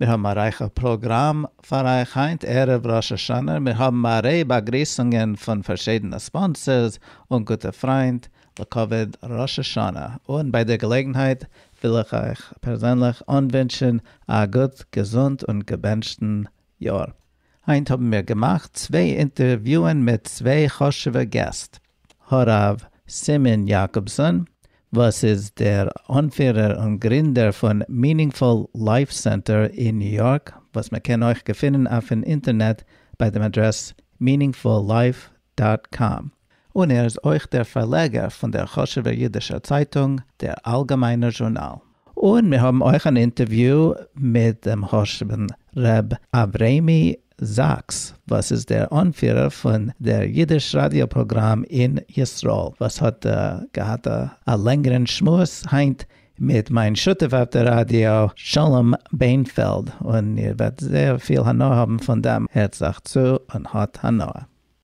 מיר האבן א רייכע פראגראם פאר אייך היינט ערב ראש השנה, מיר האבן א ריי באגריסונגען פון פארשידענע ספאנסערס און גוטע פריינט לכבוד ראש השנה, און ביי דער געלעגנהייט וויל איך אייך פערזענליך אנווינטשן א גוט געזונט און געבענטשטן יאר. היינט האבן מיר געמאכט צוויי אינטערוויוען מיט צוויי חשוב'ע געסט. הרב סימון יאקאבסאן, וואס איז דער אנפירער און גרינדער פון Meaningful Life Center אין ניו יארק, וואס מען קען אויך געפינען אויפן אינטערנעט ביי דעם אדרעס meaningfullife דאט קאם, און ער איז אויך דער פארלעגער פון דער חשובער אידישער צייטונג דער אלגעמיינער זשורנאל. און מיר האבן אויך אן אינטערוויו מיט דעם חשוב'ן ר' אברעמי זאקס וואס איז דער אנפירער פון דער אידיש ראדיא פראגראם אין ישראל, וואס האט געהאט א לענגערן שמועס היינט מיט מיין שותף אויף דער ראדיא שלום בענפעלד, און איר וועט זייער פיל הנאה האבן פון דעם, הערט זיך צו און האט הנאה.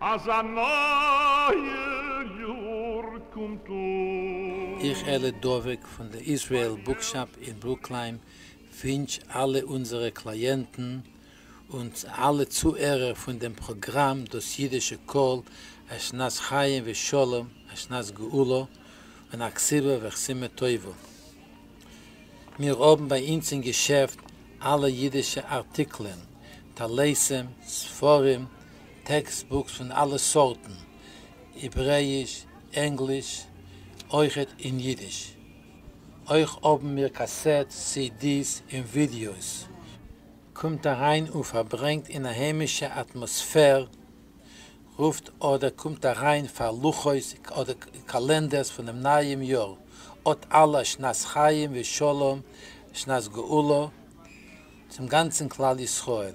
אז א נייער יאר קומט אן. איך אלי דבוק פון די איזרעיל בוקשאפ אין ברוקלין ווינטש אלע אונזערע קלייענטן און אלע צוהערער פון דעם פראגראם דאס אידישע קול א שנת חיים ושלום א שנת גאולה און א כסלו וכסימה טובה. מיר האבן ביי אונז אין געשעפט אלע אידישע ארטיקלען, טלסים, ספרים, טעקסט בוקס פון אלע סארטן, העברעיש, ענגליש, אויכעט אין אידיש. אויך האבן מיר קאסעטס, סי די'ס און ווידיאוס. קומט אריין און פארברענגט אין א היימישע אטמאספער, רופט אדער קומט אריין פאר לוחות אדער קאלענדערס פונעם נייעם יאר, אט אלע שנת חיים ושלום, שנת גאולה צום גאנצן כלל ישראל.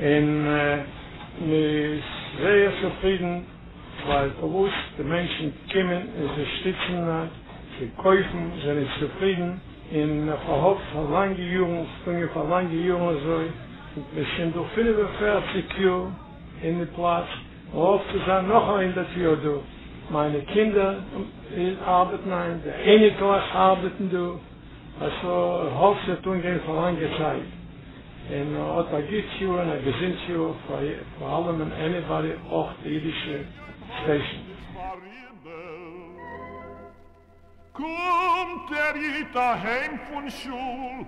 און מען איז זייער צופרידן ווייל פארוואס די מענטשן קומען און זיי שטיצן און זיי קויפן זענען צופרידן און מען פארהאפט פאר לאנגע יארן ס'געגאנגען פאר לאנגע יארן אזוי און מען שוין דא פֿינף און פֿערציק יאר אין די פלאץ מען האפט צו זיין נאך א הונדערט יאר דא מיינע קינדער ארבעטן היינט די אייניקלעך ארבעטן דא אז ס'האפט ס'וועט אנגיין פאר לאנגע צייט. און האט א גוט יאר און א געזונט יאר פאר פאר אלעמען עניבאדי אויך די אידישע סטעישן. קומט דער איד אהיים פון שול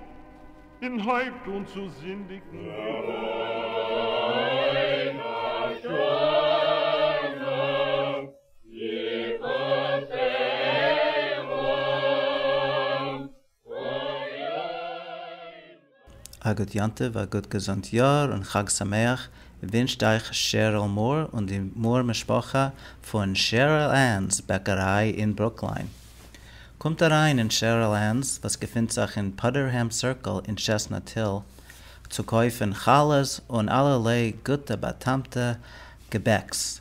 און הויבט אן צו זינדיגן. א גוט יום טוב, א גוט געזונט יאר און חג שמח ווינטשט אייך שעריל מאר און די מאר משפחה פון שעריל ענס בעקעריי אין ברוקליין. קומט אריין אין שעריל ענס וואס געפינט זיך אין פאדערהעם סירקל אין טשעסנאט היל צו קויפן חלות און אלערליי גוטע באטעמטע געבעקס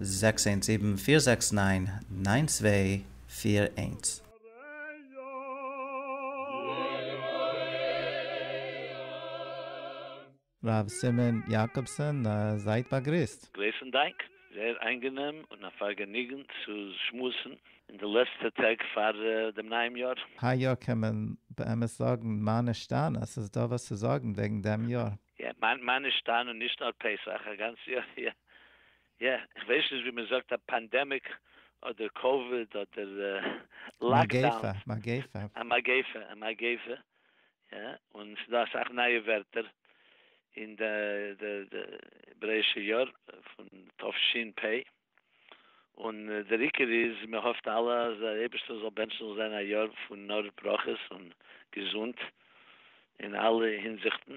זעקס איינס זיבן פיר זעקס ניין ניין צוויי פיר איינס. ר' סימון יאקאבסאן זייט באגריסט. גרויסן דאנק, זייער איינגענעם און א פארגעניגן צו שמועסן אין די לעצטע טעג פאר דעם נייעם יאר. היי יאר קען מען באמת זאגן מה נשתנה, ס'איז דא וואס צו זאגן וועגן דעם יאר. יא, מיין מאן איז שטארן און נישט נאר פסח, א גאנץ יאר, יא. יא, איך ווייס נישט ווי מען זאגט א פאנדעמיק אדער קאוויד אדער לאקדאון. מגיפה. א מגיפה. א מגיפה. יא, און ס'איז דא אסאך נייע ווערטער אין די דעבראישע יאר פון תשפ. און דער עיקר איז מיר האפט אלע אז דער אייבערשטער זאל בענטשן זאל זיין א יאר פון נאר ברכות און געזונט אין אלע הינזיכטן,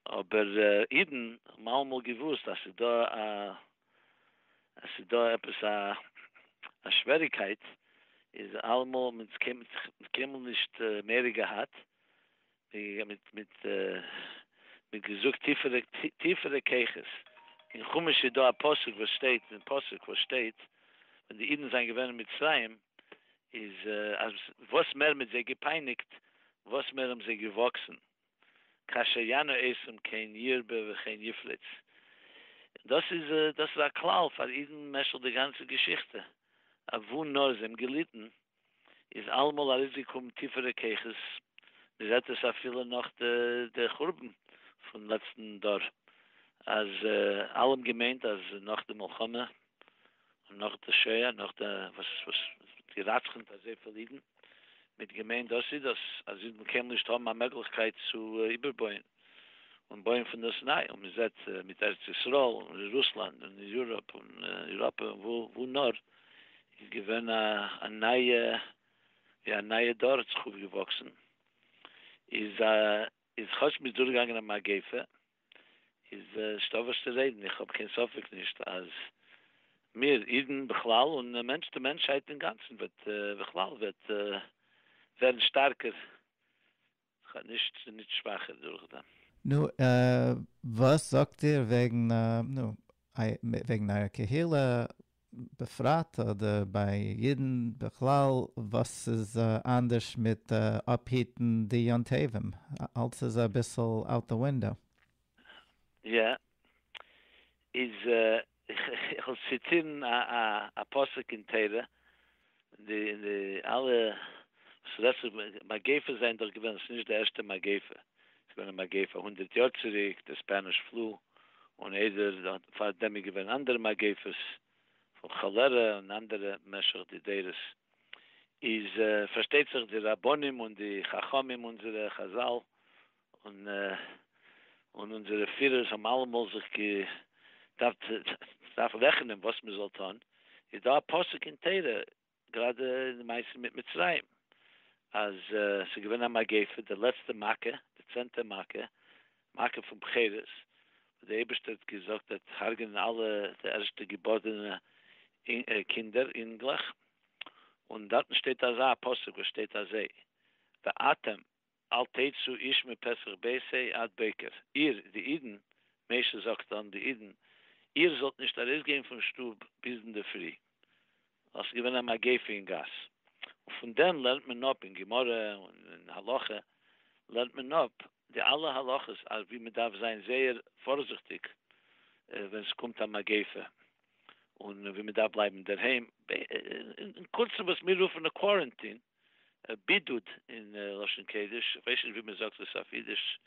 אבער אידן האבן אלעמאל געוואוסט אז ס'דא א אז ס'דא עפעס א א שוועריקייט, איז אלעמאל האבן אונז קיינמאל נישט מעריק געהאט, מיט געזאגט טיפערע כוחות, אין חומש איז דא א פסוק וואס שטייט אין פסוק וואס שטייט ווען די אידן זענען געווען אין מצרים איז אז וואס מער מ'האט זיי געפייניגט וואס מער האבן זיי געוואקסן, כאשר יענו עשום כן ירבה וכן יפלץ, דאס איז דאס איז א כלל פאר אידן משך די גאנצע געשיכטע, אוואו נאר זיי האבן געליטן איז אלעמאל ארויסגעקומען טיפערע כוחות, מען זעט עס אפילו נאך די חורבן פון לעצטן דור, אז אלע האבן געמיינט אז נאך די מלחמה און נאך די שואה, נאך די וואס וואס געראצכענט אזויפיל אידן, מען האט געמיינט דאס איז דאס, אז אידן קענען נישט האבן א מעגליכקייט צו איבערבויען. און בויען פון דאס ניי, און מ'זעט מיט ארץ ישראל און אין רוסלאנד און אין יוראפ און אייראפע און וואו נאר, איז געווען א נייע, ווי א נייע דור האט זיך אויפגעוואקסן, איז איז כאטש מ'איז דורכגעגאנגען א מגיפה, איז נישט דא וואס צו רעדן, איך האב קיין ספק נישט אז מיר אידן בכלל און די מענטשהייט אינגאנצן וועט בכלל וועט ווערן שטארקער כ'האב נישט בין נישט שוואכער דורכדעם. נו, וואס זאגט איר וועגן נו, וועגן אייער קהילה בפרט אדער ביי אידן בכלל, וואס איז אנדערש מיט אפהיטן די יום טובים? אלס איז אביסל out the window. יא, איז איך וועל ציטירן א פסוק אין תורה, אין די אלע וואס רעדט זיך מגיפות זענען דאך געווען, עס איז נישט די ערשטע מגיפה, עס איז געווען א מגיפה הונדערט יאר צוריק, די ספעניש פלו, און איידער דאן, פאר דעם איז געווען אנדערע מגיפות, פון כאלערע און אנדערע משך די דורות, איז פארשטייט זיך די רבנים און די חכמים אונזערע חזל און אונזערע פירערס האבן אלעמאל זיך געדארפט רעכענען וואס מען זאל טון, איז דא א פסוק אין תורה, גראדע אין די מעשה מיט מצרים, אז ס'איז געווען א מגיפה, די לעצטע מכה, די צענטע מכה, מכה פון בחירות, וואס די אייבערשטער האט געזאגט ער וועט הרג'נען אלע די ערשטע געבארענע קינדער, אינגלעך, און דארטן שטייט אזא פסוק וואס שטייט אזוי, ואתם אל תצאו איש מפסח בית ה' עד בוקר, איר, די אידן, משה זאגט אן די אידן, איר זאלט נישט ארויסגיין פון שטוב ביז אינדערפרי. דאס איז געווען א מגיפה אין גאס. און פון דעם לערנט מען אפ אין גמרא און אין הלכה, לערנט מען אפ די אלע הלכות אז ווי מען דארף זיין זייער פארזיכטיג ווען ס'קומט א מגיפה, און ווי מען דארף בלייבן אינדערהיים, אין קורצן וואס מיר רופן א קווארענטין. בידוד אין לשון קודש, איך ווייס נישט ווי מען זאגט דאס אויף אידיש,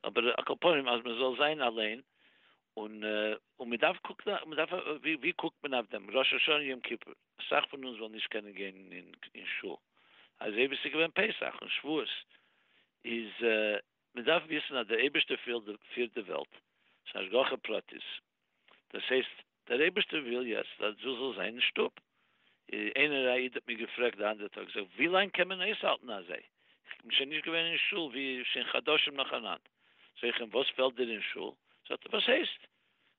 אבער על כל פנים אז מען זאל זיין אליין, און מען דארף קוקן, ווי קוקט מען אויף דעם ראש השנה יום כיפור, אסאך פון אונז וועלן נישט קענען גיין אין שול, אזוי ווי עס איז געווען פסח און שבועות, איז מען דארף וויסן אז דער אייבערשטער פירט די וועלט, ס'איז נישט השגחה פרטית, דאס הייסט דער אייבערשטער וויל יעצט אז דו זאלסט זיין אין שטוב. איינער א איד האט מיר געפרעגט די אנדערע טאג, זאג, ווי לאנג קען מען אויסהאלטן אזוי? איך בין שוין נישט געווען אין שול ווי שוין חדשים נאכאנאנד. זאג איך אים, וואס פעלט דיר אין שול? זאגט ער, וואס הייסט?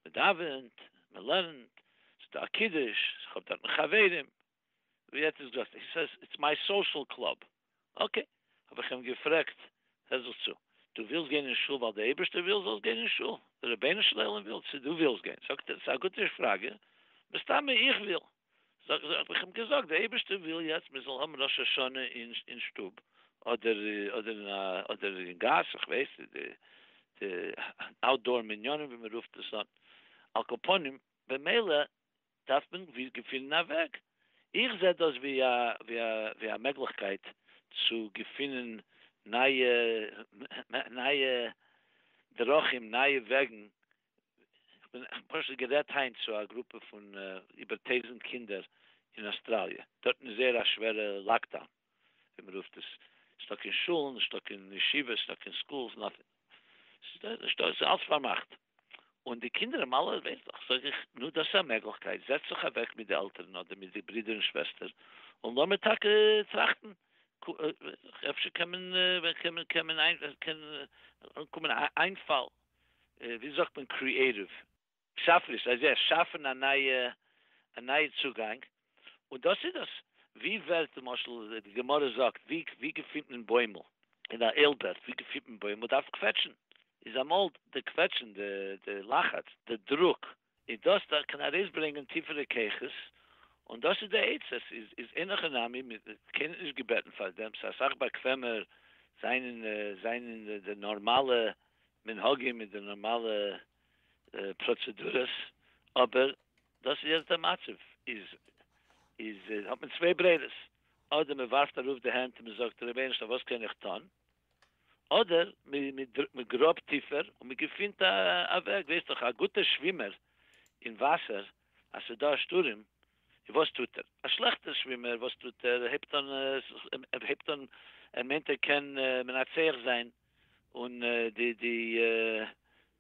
מען דאווענט, מען לערנט, ס'איז דא א קידוש, איך האב דארטן חברים. ווי האט עס געהייסן? הי סעיס איטס מיי סאושעל קלאב. אקעי, האב איך אים געפרעגט, הער זיך צו, דו ווילסט גיין אין שול ווייל די אייבערשטער וויל זאלסט גיין אין שול? די רבונו של עולם וויל צו דו ווילסט גיין? זאגט ער, ס'איז א גוטע פראגע, מסתמא איך וויל. זאג איך, האב איך אים געזאגט, די אייבערשטער וויל יעצט מען זאל האבן ראש השנה אין שטוב אדער אין גאס, איך ווייס נישט, די אוטדאור מניינים ווי מען רופט עס אן, על כל פנים, במילא דארף מען ווי געפינען א וועג. איך זע דאס ווי א ווי א ווי א מעגליכקייט צו געפינען נייע נייע דרכים נייע וועגן. כ'בין פשוט גערעדט היינט צו א גרופע פון איבער טויזענט קינדער אין אוסטראליע, דארטן איז זייער א שווערע לאקדאון. ווי מען רופט עס, נישטא קיין שולן, נישטא קיין ישיבות, נישטא קיין סקולס, נאטינג, נישטא, עס איז אלץ פארמאכט, און די קינדער האבן אלע ווערטלעך, זאג איך, נו דאס איז א מעגליכקייט, זעץ זיך אוועק מיט די עלטערן אדער מיט די ברידער און שוועסטער, און לאמיר טאקע טראכטן, אפשר קען מען, קען מען, קען מען, קען אנקומען א איינפאל, ווי זאגט מען, קריעטיוו. שאפעניש, זיי זיי שאפן א נייע א נייע צוגאנג, און דאס איז דאס. ווי ווערט למשל די גמרא זאגט ווי ווי געפינט מען בוימל אין א אילבערט ווי געפינט מען בוימל דארף קוועטשן, איז אמאל די קוועטשן די די לחץ די דרוק איז דאס דארף קען ארויסברענגען טיפערע כוחות, און דאס איז די עצה, עס איז איז אין הכי נמי מען קען איז נישט געבעטן פאר דעם, ס'איז אסאך באקוועמער זיין אין זיין אין די נארמאלע מנהגים מיט די נארמאלע פראצעדורעס, אבער דאס איז יעצט דער מצב, איז איז האט מען צוויי ברירות, אדער מען ווארפט ארויף די הענט און מען זאגט רבונו של עולם וואס קען איך טון, אדער מען גראבט טיפער און מען געפינט א וועג, ווער איז דאך א גוטער שווימער אין וואסער אז ס'איז דא א שטורעם, און וואס טוט ער? א שלעכטער שווימער וואס טוט ער? ער הייבט אן ער מיינט ער קען מנצח זיין. און די די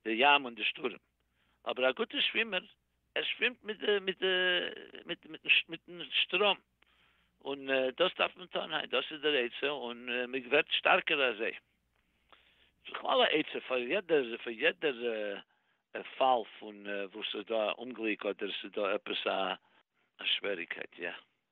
די ים און די שטורעם, אבער א גוטע שווימער ער שווימט מיט די מיט די מיט מיטן שטראם, און דאס דארף מען טון, היי דאס איז דער עצה און מען ווערט שטארקער אזוי. בכלל א עצה פאר יעדער פאר יעדער פאל פון וואס ס'איז דא א אומגליק אדער ס'איז דא עפעס א שוועריקייט יא.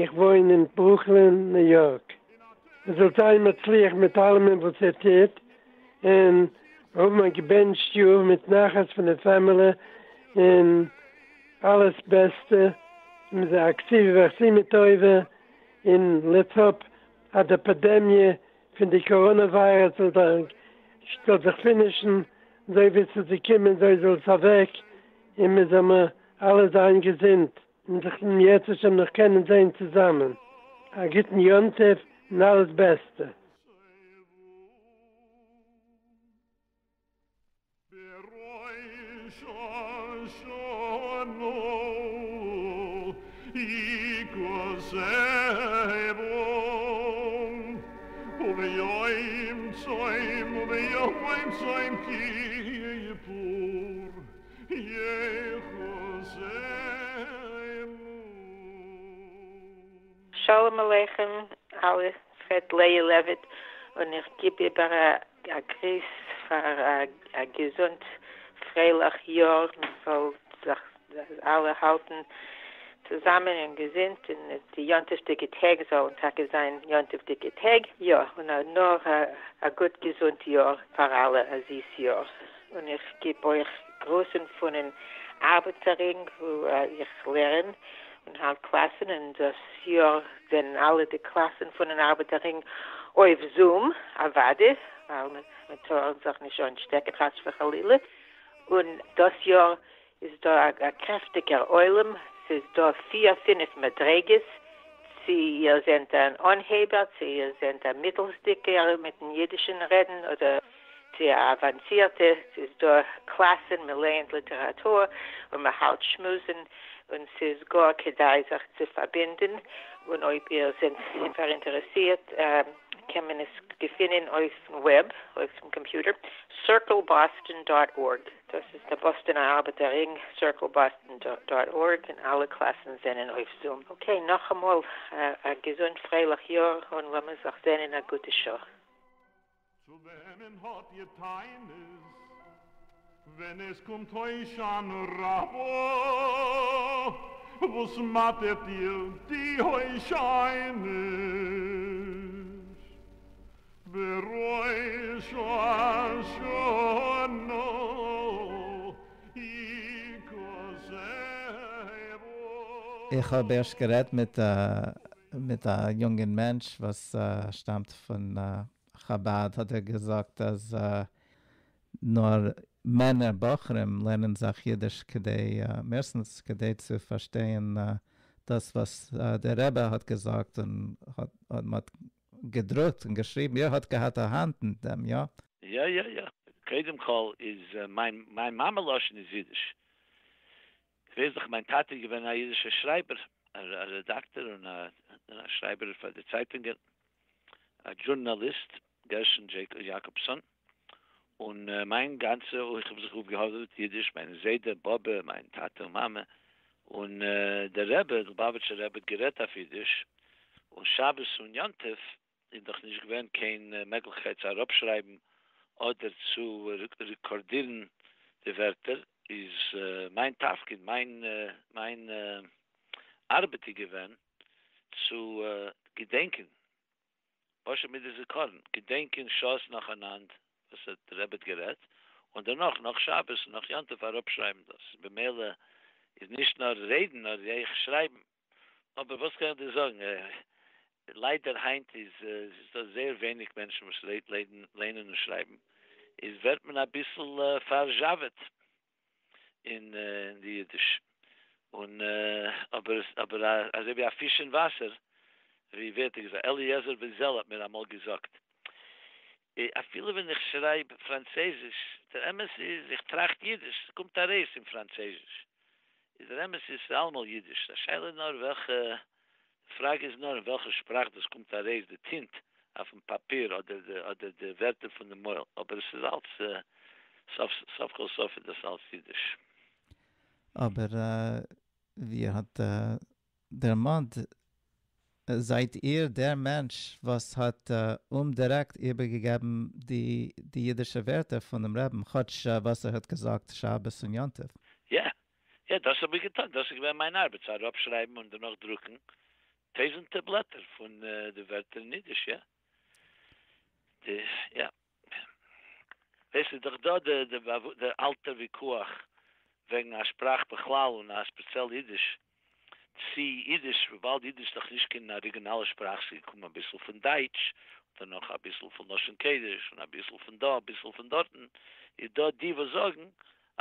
איך וואוין אין ברוקלין ניו יארק, איר זאלט זיין מצליח מיט אלעמען וואס איר טוט, און האבן א געבענטשט יאר מיט נחת פון די פעמעלע און אלעס בעסטע, אקסי ואכסי מטובה, און לעטס האפ אז די פעדעמיע פון די קאראנע וויירוס זאל זיך פינישן, אזוי ווי עס איז געקומען אזוי זאל עס אוועק, און מען זאל מיר אלע זיין געזונט. און זיך דאן יעצט אפשר נאך קענען זעהן צוזאמען, א גוטן יום טוב און אלעס בעסטע. שלום עליכם אלע פרעד לאה לעוויט און איך גיב איבער א גריס פאר א געזונט פרייליך יאר מען זאל זיך אלע האלטן צוזאמען און געזונט און די יום טוב'דיגע טעג זאלן טאקע זיין יום טוב'דיגע טעג יא און נאר א גוט געזונט יאר פאר אלע א זיס יאר. און איך גיב אויך גרוסן פונעם ארבעטער רינג וואו איך לערן און האלט קלאסן, און דאס יאר זענען אלע די קלאסן פונעם ארבעטער רינג אויף זום, אוואדי ווייל מען טאר זיך נישט אנשטעקן חס וחלילה, און דאס יאר איז דא א קרעפטיגער עולם, ס'איז דא פיר פינף מדריגות, צו איר זענט אן אנהייבער, צו איר זענט א מיטלסדיגער מיטן אידישן רעדן, אדער צו א אוואנסירטע, ס'איז דא קלאסן, מ'לייענט ליטעראטור און מ'האלט שמועסן, און ס'איז גאר כדאי זיך צו פארבינדן, און אויב איר זענט פאראינטערעסירט קען מען עס געפינען אויפן וועב, אויפן קאמפיוטער, circleboston דאט ארג. דאס איז די באסטאנע ארבעטער רינג, circleboston דאט ארג, און אלע קלאסן זענען אויף זום. אקעי, נאכאמאל א געזונט פרייליך יאר, און לאמיר זיך זען אין א גוטע שעה. צו וועמען האט איר טענות ווען עס קומט הושענא רבא? וואס מאטערט איר די הושענות? בראש השנה יקוה. איך האב ערשט גערעדט מיט מיט א יונגען מענטש וואס שטאמט פון חבד האט ער געזאגט אז נאר מענער בחורים לערנען זיך אידיש כדי מערסטנס כדי צו פארשטייען דאס וואס דער רבי האט געזאגט און האט געדרוקט און געשריבן איר האט געהאט א האנט אין דעם יא? יא יא יא, קודם כל איז מיין מיין מאמע לשון איז אידיש, כ'ווייס דאך מיין טאטע איז געווען א אידישער שרייבער, א רעדאקטער און א שרייבער פאר די צייטונגען, א דזשורנאליסט, גרשון יעקובסאן. און מיין גאנצע איך האב זיך אפגעהאדעוועט אידיש, מיין זיידע, באבע, מיין טאטע און מאמע, און דער רבי, דער לובאוויטשער רבי האט גערעדט אויף אידיש, און שבת און יום טוב איז דאך נישט געווען קיין מעגליכקייט צו אראפשרייבן אדער צו רעקארדירן די ווערטער, איז מיין תפקיד, מיין ארבעט איז געווען צו געדענקען פשוט מיט די זיכרון, געדענקען שעות נאכאנאנד וואס האט די רבי האט גערעדט, און דערנאך נאך שבת און נאך יום טוב אראפשרייבן דאס, במילא איז נישט נאר רעדן נאר ר ח שרייבן. אבער וואס קען איך דיר זאגן, ליידער היינט איז איז דא זייער ווייניג מענטשן וואס לערנען און שרייבן, איז ווערט מען אביסל פארזשאוועט. אין די אידיש, און אבער אבער אזוי ווי א פיש אין וואסער, ווי ווערט ער געזאגט, אליעזר בן זל האט מיר אמאל געזאגט, אפילו ווען איך שרייב פראנצעזיש, דער אמת איז איך טראכט אידיש, ס'קומט ארויס אין פראנצעזיש, איז דער אמת איז ס'אלעמאל אידיש, די שאלה איז נאר וועלכע די פראגע איז נאר אין וועלכע שפראך דאס קומט ארויס, די טינט אויפן פאפיר אדער די ווערטער פונעם מויל, אבער עס איז אלץ, סוף כל סוף איז דאס אלץ אידיש. אבער ווי ער האט דערמאנט, זייט איר דער מענטש וואס האט אומדירעקט איבערגעגעבן די אידישע ווערטער פונעם רעבן, כאטש וואס ער האט געזאגט שבת און יום טוב. יא, יא, דאס האב איך געטון, דאס איז געווען מיין ארבעט, צו אראפשרייבן און דערנאך דרוקן טויזענטער בלעטער פון די ווערטער אין אידיש, יא. די, יא. דאס איז דאך דא די, די אלטע וויכוח וועגן א שפראך בכלל און א ספעציעל אידיש, צי אידיש, וויבאלד אידיש איז דאך נישט קיין אריגינאלע שפראך, ס'איז געקומען אביסל פון דייטש, דערנאך אביסל פון לשון קודש, און אביסל פון דא, אביסל פון דארטן, איז דא די וואס זאגן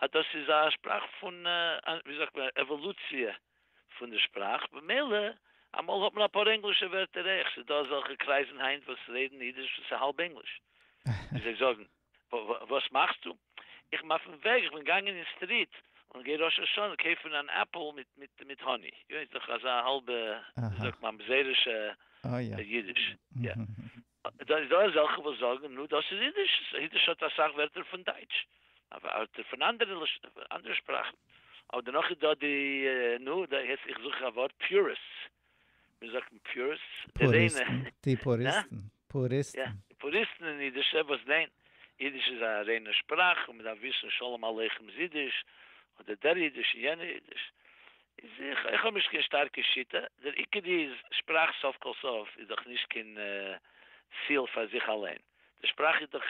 אז דאס איז א שפראך פון ווי זאגט מען עוואלוציע פון די שפראך במילא אמאל האט מען אפאר ענגלישע ווערטער עכ ז איז דא אזעלכע קרייזן היינט וואס רעדן אידיש וואס איז האלב ענגליש ווי זיי זאגן וואס מאכסטו איך בין אויפן וועג איך בין געגאנגען אין סטריט און גיי ראש השנה קויפן אן עפל מיט מיט האני יו איז דאך אזא האלבע ווי זאגט מען ממזרישע אידיש יא. דא איז דא אזעלכע וואס זאגן נו דאס איז אידיש, אידיש האט אסאך ווערטער פון דייטש, ווערטער פון אנדערע שפראכן, אבער דערנאך איז דא די נו יעצט איך זוך א ווארט פיוריסטס, ווי זאגט מען פיוריסטס? די ריינע, די פוריסטן, פוריסטן, יא פוריסטן אין אידיש וואס ניין אידיש איז א ריינע שפראך און מען דארף וויסן שלום עליכם איז אידיש, אדער דער אידיש און יענער אידיש, איז איך איך האב נישט קיין שטארקע שיטה, דער עיקר איז שפראך סוף כל סוף איז דאך נישט קיין ציל פאר זיך אליין, די שפראך איז דאך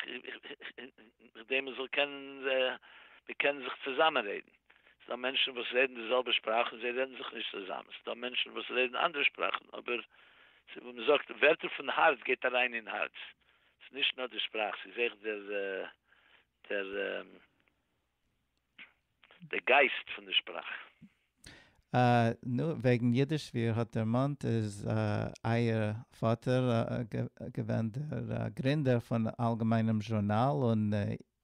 כדי מען זאל קענען מען קען זיך צוזאמען רעדן, ס'דא מענטשן וואס רעדן די זעלבע שפראך און זיי רעדן זיך נישט צוזאמען, ס'דא מענטשן וואס רעדן אנדערע שפראכן אבער ווי מען זאגט ווערטער פון הארץ גייט אריין אין הארץ, ס'איז נישט נאר די שפראך ס'איז אויך דער דער. די גייסט פון די שפראך. אה, נו, וועגן אידיש, ווי איר האט דערמאנט איז אייער פאטער געווען דער גרינדער פון אלגעמיינעם זשורנאל און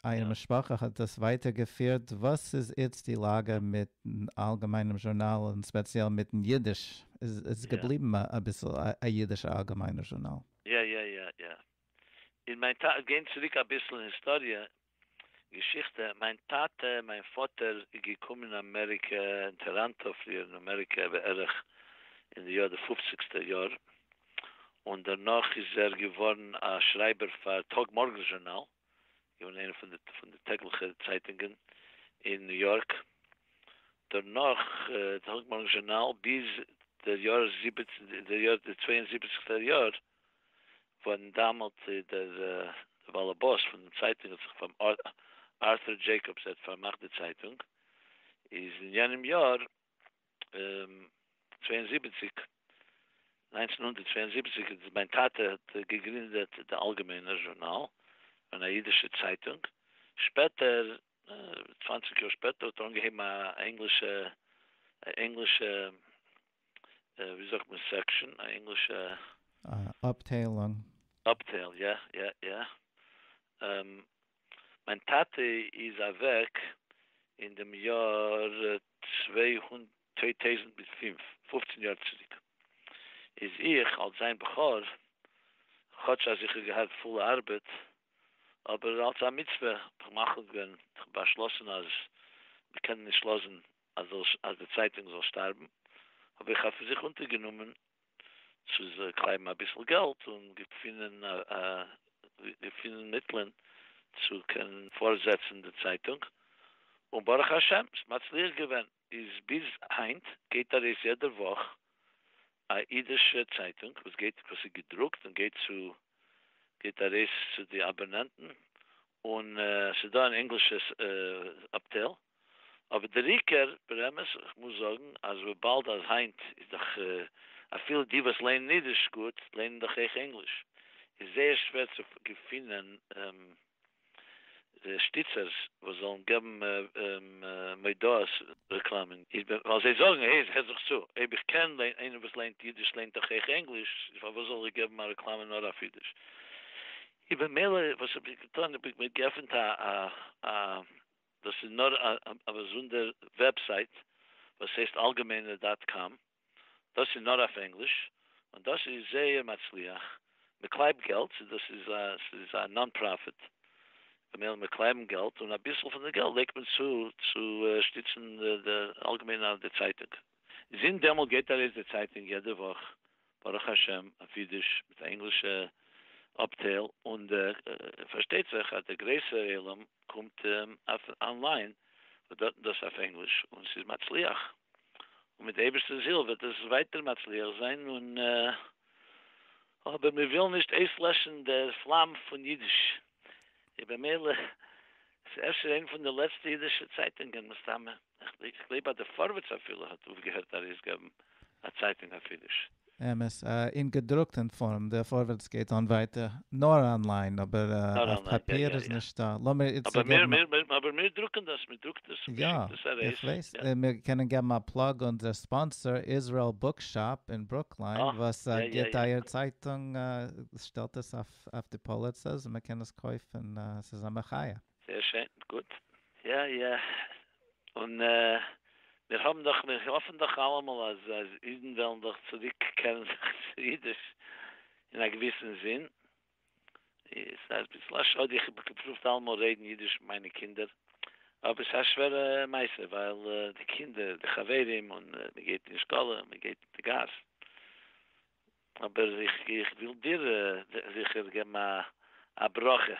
אייער משפחה האט דאס ווייטער געפירט, וואס איז איצט די לאגע מיטן אלגעמיינעם זשורנאל און ספעציעל מיטן אידיש? איז עס געבליבן אביסל א אידישע אלגעמיינער זשורנאל? יא יא יא יא. און מיין טאטע, גייען צוריק אביסל אין היסטאריע, געשיכטע, מיין טאטע, מיין פאטער, איז געקומען אין אמעריקע, אין טאראנטא, פריער אין אמעריקע בערך אין די יאר די פופציגסטע יאר, און דערנאך איז ער געווארן א שרייבער פאר טאג מארגענס זשורנאל, געווען איינע פון די פון די טעגליכע צייטונגען אין ניו יארק, דערנאך טאג מארגענס זשורנאל ביז די יאר זיבעצן די יאר די צוויי און זיבעציגסטע יאר, פון דאמאלט איז דער באלעבאס פון דעם צייטונג האט זיך פארמאכט, ארטור דזשעיקאבס ער האט פארמאכט די צייטונג, איז אין יענעם יאר צוויי און זיבעציק, נײַנצן הונדערט צוויי און זיבעציק, איז מיין טאטע האט געגרינדעט די אלגעמיינער זשורנאל, אן א אידישע צייטונג, שפעטער צוואַנציק יאר שפעטער האט ער אנגעהויבן א ענגלישע ענגלישע ווי זאגט מען סעקשאן א ענגלישע אפטיילונג. אפטייל יא יא יא. מיין טאטע איז אוועק אין דעם יאר צוויי טויזנט מיט פֿינף, פֿופֿצן יאר צוריק איז איך אלס זיין בכור, כאטש אז איך האב געהאט פולע ארבעט, אבער אלס א מצוה האב איך מחליט געווען, איך האב באשלאסן אז מ'קען נישט לאזן אז די צייטונג זאל שטארבן, האב איך אויף זיך אונטערגענומען צו זיי קלייבן אביסל געלט און געפינען געפינען מיטלען צו קענען פארזעצן די צייטונג, און ברוך השם ס'איז מצליח געווען, איז ביז היינט גייט ארויס יעדע וואך א אידישע צייטונג וואס גייט וואס איז געדרוקט און גייט צו גייט ארויס צו די אבאנענטן און ס'איז דא אן ענגלישע אפטייל, אבער דער עיקר, ברמז, איך מוז זאגן אז וויבאלד אז היינט איז דאך אפילו די וואס לערנען אידיש גוט לערנען דאך אויך ענגליש, איז זייער שווער צו געפינען שטיצערס וואס זאלן געבן מודעות רעקלאמען, איז ווייל זיי זאגן, העי, הער זיך צו, אויב איך קען איינער וואס לערנט אידיש לערנט דאך אויך ענגליש, פארוואס זאל איך געבן א רעקלאמע נאר אויף אידיש? און במילא וואס האב איך געטון, האב איך מיר געפענט א א דאס איז נאר א באזונדער וועבסייט וואס הייסט אלגעמיינער דאט קאם, דאס איז נאר אויף ענגליש, און דאס איז זייער מצליח, מען קלייבט געלט, ס'איז דאס איז א ס'איז א נאן פראפיט, במילא מיר קלייבן געלט, און אביסל פון די געלט לייגט מען צו צו שטיצן די אלגעמיינער די צייטונג. זינט דעמאלט גייט ארויס די צייטונג יעדע וואך ברוך השם אויף אידיש מיט א ענגלישע אפטייל, און פארשטייט זיך אז די גרעסערע עולם קומט אויף אנליין וואס דארטן דאס אויף ענגליש און ס'איז מצליח, און מיט די אייבערשטער'ס הילף וועט עס ווייטער מצליח זיין, און אבער מיר ווילן נישט אויסלעשן דער פלאם פון אידיש, און במילא איז אפשר איינע פון די לעצטע אידישע צייטונגען מסתמא. איך גלייב אז די פארווערטס אפילו האט אויפגעהערט ארויסגעבן א צייטונג אויף אידיש. אמת, אין געדרוקטען פארם, די פארווערטס גייט אן ווייטער נאר אנליין, אבער אויף פאפיר איז נישטא, לאמיר איצא געבן א. אבער מיר דרוקען דאס, מען דרוקט דאס און מען שיקט דאס ארויס. יא, איך ווייס, און מיר קענען געבן א פלאג אונזער ספאנסער איזרעל בוק שאפ אין ברוקליין וואס גיבט אייער צייטונג, שטעלט עס אויף די פאליצעס און מען קען עס קויפן, עס איז א מחיה. זייער שיין, גוט. יא יא, און מיר האבן דאך, מיר האפן דאך אלעמאל אז אידן וועלן דאך צוריק קערן זיך צו אידיש, אין א געוויסן זין. ס'איז אביסל א שאד, איך האב געפרובט אלעמאל רעדן אידיש מיט מיינע קינדער, אבער ס'איז א שווערע מעשה, ווייל די קינדער, די חברים, און מען גייט אין שטאלע, מען גייט אין די גאס. אבער איך וויל דיר זיכער געבן א ברכה.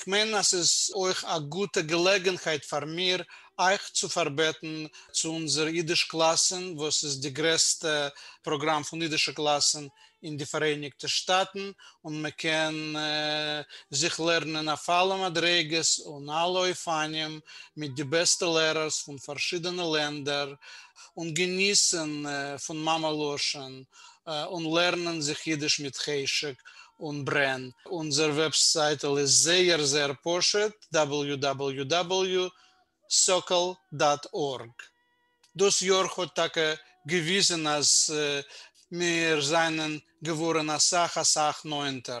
כ'מיין אז ס'איז אויך א גוטע געלעגענהייט פאר מיר אייך צו פארבעטן צו אונזער אידיש קלאסען וואס איז די גרעסטע פראגראם פון אידישע קלאסען אין די פאראייניגטע שטאטן און מען קען זיך לערנען אויף אלע מדריגות און אלע אופנים מיט די בעסטע לערערס פון פארשידענע לענדער און געניסען פון מאמע לשון און לערנען זיך אידיש מיט חשק און ברען. אונזער וועבסייטל איז זייער זייער פשוט, www.sokol דאט ארג. דאס יאר האט טאקע געוויזען אז מיר זענען געווארען אסאך אסאך נאענטער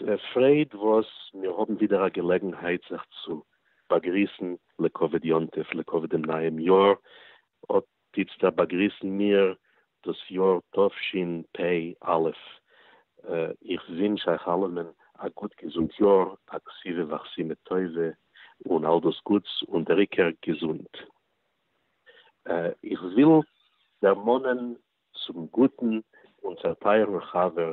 דער פרייד וואס מיר האבן ווידער א געלעגנהייט זיך צו באגריסן לכבוד יום טוב, לכבוד דעם נייעם יאר, אט איצטער באגריסן מיר דאס יאר תשפ א. איך ווינטש אייך אלעמען א גוט געזונט יאר, א כסיווע ואכסימא טובה, און אל דאס גוטס, און דער עיקר געזונט. איך וויל דערמאנען צום גוטן און צעטייערן חבר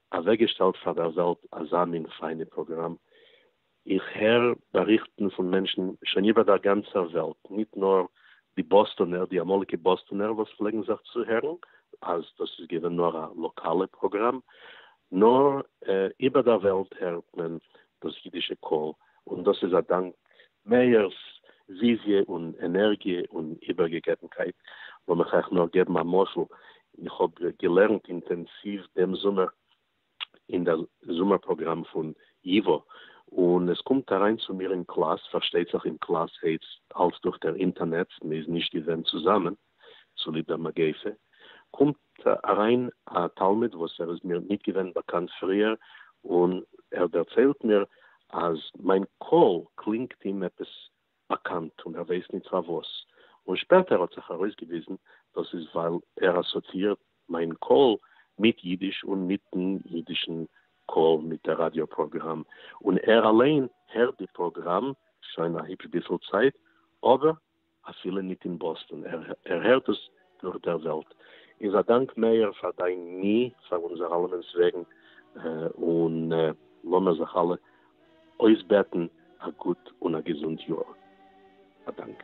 אוועקגעשטעלט פאר דער וועלט אזא מין פיינע פראגראם, איך הער באריכטן פון מענטשן שוין איבער דער גאנצער וועלט, ניט נאר די באסטאנער, די אמאליגע באסטאנער וואס פלעגן זיך צוהערן אז דאס איז געווען נאר א לאקאלע פראגראם, נאר איבער דער וועלט הערט מען דאס אידישע קול, און דאס איז א דאנק מאיר'ס וויזיע און ענערגיע און איבערגעגעבנקייט, לאמיך אייך נאר געבן א משל, איך האב געלערנט אינטענסיוו דעם זומער אין דער זומער פראגראם פון ייווא, און עס קומט אריין צו מיר אין קלאס, פארשטייט זיך אין קלאס הייסט אלס דורך דער אינטערנעץ, מען איז נישט געווען צוזאמען, צוליב דער מגיפה, קומט אריין א תלמיד וואס ער איז מיר ניט געווען באקאנט פריער, און ער דערציילט מיר אז מיין קול קלינגט אים עפעס באקאנט און ער ווייס ניט פארוואס, און שפעטער האט זיך ארויסגעוויזן דאס איז ווייל ער אסאציאירט מיין קול מיט אידיש און מיטן אידישן קול מיט דער ראדיא פראגראם, און ער אליין הערט די פראגראם שוין א היפש ביסל צייט, אבער. אפילו ניט אין באסטאן, ער הערט עס דורך דער וועלט. איז א דאנק מאיר פאר דיין מי פאר אונזער אלעמענס וועגן, און לאמיר זיך אלע אויסבעטן א גוט און א געזונט יאר. א דאנק.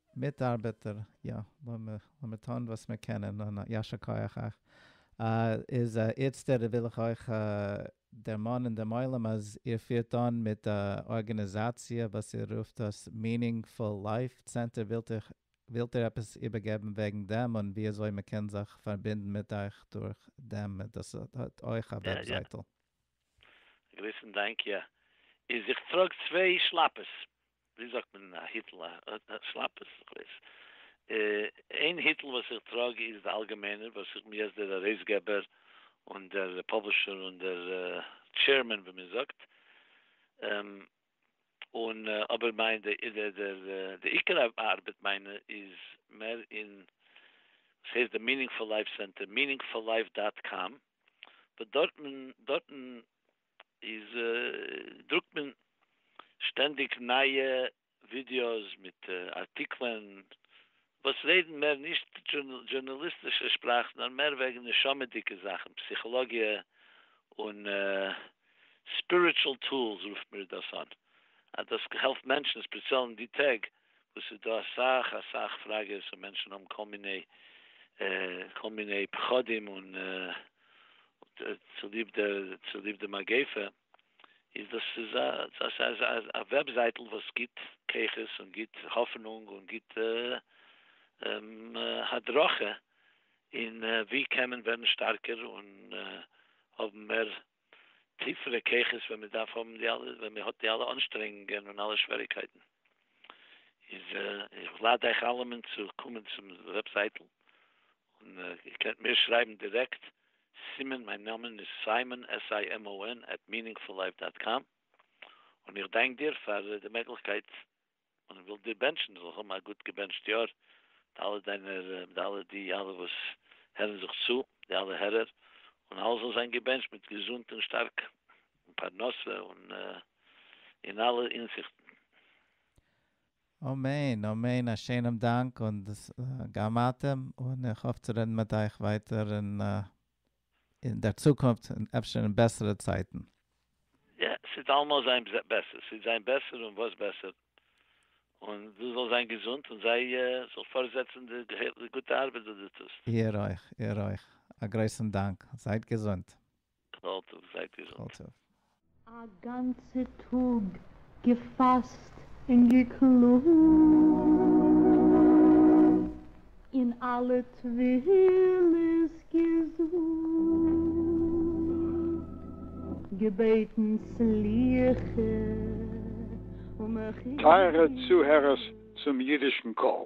מיטארבעטער, יא, לאמיר טון וואס מיר קענען, און יישר כח אייך. איז איצטער וויל איך אויך דערמאנען דעם עולם אז איר פירט אן מיט א ארגענעזאציע וואס איר רופט עס Meaningful Life Center, ווילט איר עפעס איבערגעבן וועגן דעם און ווי אזוי מען קען זיך פארבינדן מיט אייך דורך דעם? דאס האט אויך א וועבזייטל. גריסן, דאנק, יא, איז איך טראג צוויי שלאפעס. ווי זאגט מען אין א היטל א שלאפער סוכות. איין היטל וואס איך טראג איז די אלגעמיינער וואס איך מיר דער ארויסגעבער און דער פאבלישער און דער טשעירמען ווי מען זאגט און אבער מיין די עיקר ארבעט מיינע איז מער אין וואס הייסט די מינינגפול לייף סענטער מינינגפול לייף דאט קאם וואס דארטן דארטן איז דרוקט מען שטענדיג נייע ווידיאוס מיט ארטיקלען וואס רעדן מער נישט דזשורנאליסטישע שפראך נאר מער וועגן נשמה'דיגע זאכן, פסיכאלאגיע און ספיריטשול טולס רופט מיר דאס אן אז דאס העלפט מענטשן ספעציעל אין די טעג וואס ס'איז דא אסאך אסאך פראגעס און מענטשן האבן כל מיני כל מיני פחדים און צוליב די צוליב די מגיפה איז דאס איז א דאס איז א וועבזייטל וואס גיבט כוחות און גיבט האפענונג און גיבט הדרכה אין ווי קען מען ווערן שטארקער און האבן מער טיפערע כוחות ווען מען דארף האבן די אלע, ווען מען האט די אלע אנשטרענגונגען און אלע שוועריקייטן. איז איך לאד אייך אלעמען צו קומען צום וועבזייטל, און איר קענט מיר שרייבן דירעקט, סימון, מיין נאמען איז סיימאן, S-I-M-O-N, עט מיענינגפול לייף דאט קאם, און איך דאנק דיר פאר די מעגליכקייט און איך וויל דיר בענטשן דו זאלסט האבן א גוט געבענטשט יאר, מיט אלע דיינע מיט אלע די אלע וואס הערן זיך צו, די אלע הערער, און אלעס זאל זיין געבענטשט מיט געזונט און שטארק, און פרנסה און אין אלע הינזיכטן. אמן אמן א שענעם דאנק און גם אתם און איך האף צו רעדן מיט אייך ווייטער און אין דער צוקונפט און אפשר אין בעסערע צייטן. יע, ס'וועט אלעמאל זיין בעסער, ס'וועט זיין בעסער און וואס בעסער, און דו זאלסט זיין געזונט און זיי זאלסט פארזעצן די גוטע ארבעט וואס דו טוסט. איר אויך, איר אויך, א גרויסן דאנק, זייט געזונט. כל טוב, זייט געזונט. כל טוב. א גאנצע טאג געפאסט און געקלאגט און אלע תפילות געזאגט, געבעטן סליחה ומחילה. טייערע צוהערערס צום אידישן קול,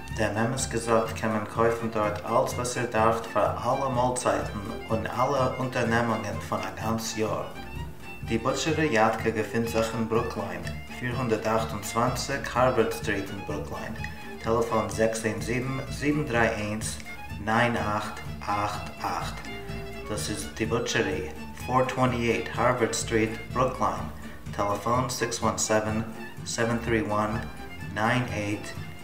דעם אמת געזאגט קען מען קויפן דארט אלץ וואס איר דארפט פאר אלע מאלצייטן און אלע אונטערנעמונגען פון א גאנץ יאר. די בוטשערי יאטקע געפינט זיך אין ברוקלין, פֿיר הונדערט אַכט און צוואַנציק הארווארד סטריט אין ברוקלין, טעלעפאן זעקס איין זיבן, זיבן דרײַ איינס, נײַן אַכט אַכט אַכט. דאס איז די בוטשערי, פֿיר הונדערט צוואַנציק הארווארד סטריט, ברוקלין, טעלעפאן זעקס איין זיבן, זיבן דרײַ איינס, נײַן אַכט אַכט אַכט.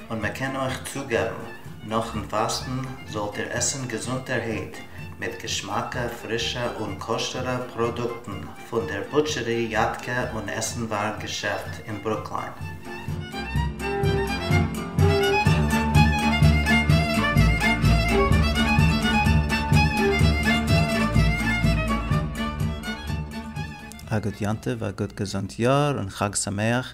און מען קען אויך צוגעבן, נאכן פאסטן זאלט איר עסן געזונטערהייט, מיט געשמאקע, פרישע און כשר'ע פראדוקטן פון דער בוטשערי יאטקע און עסנווארג געשעפט אין ברוקלין. א גוט יום טוב, א גוט געזונט יאר, און חג שמח!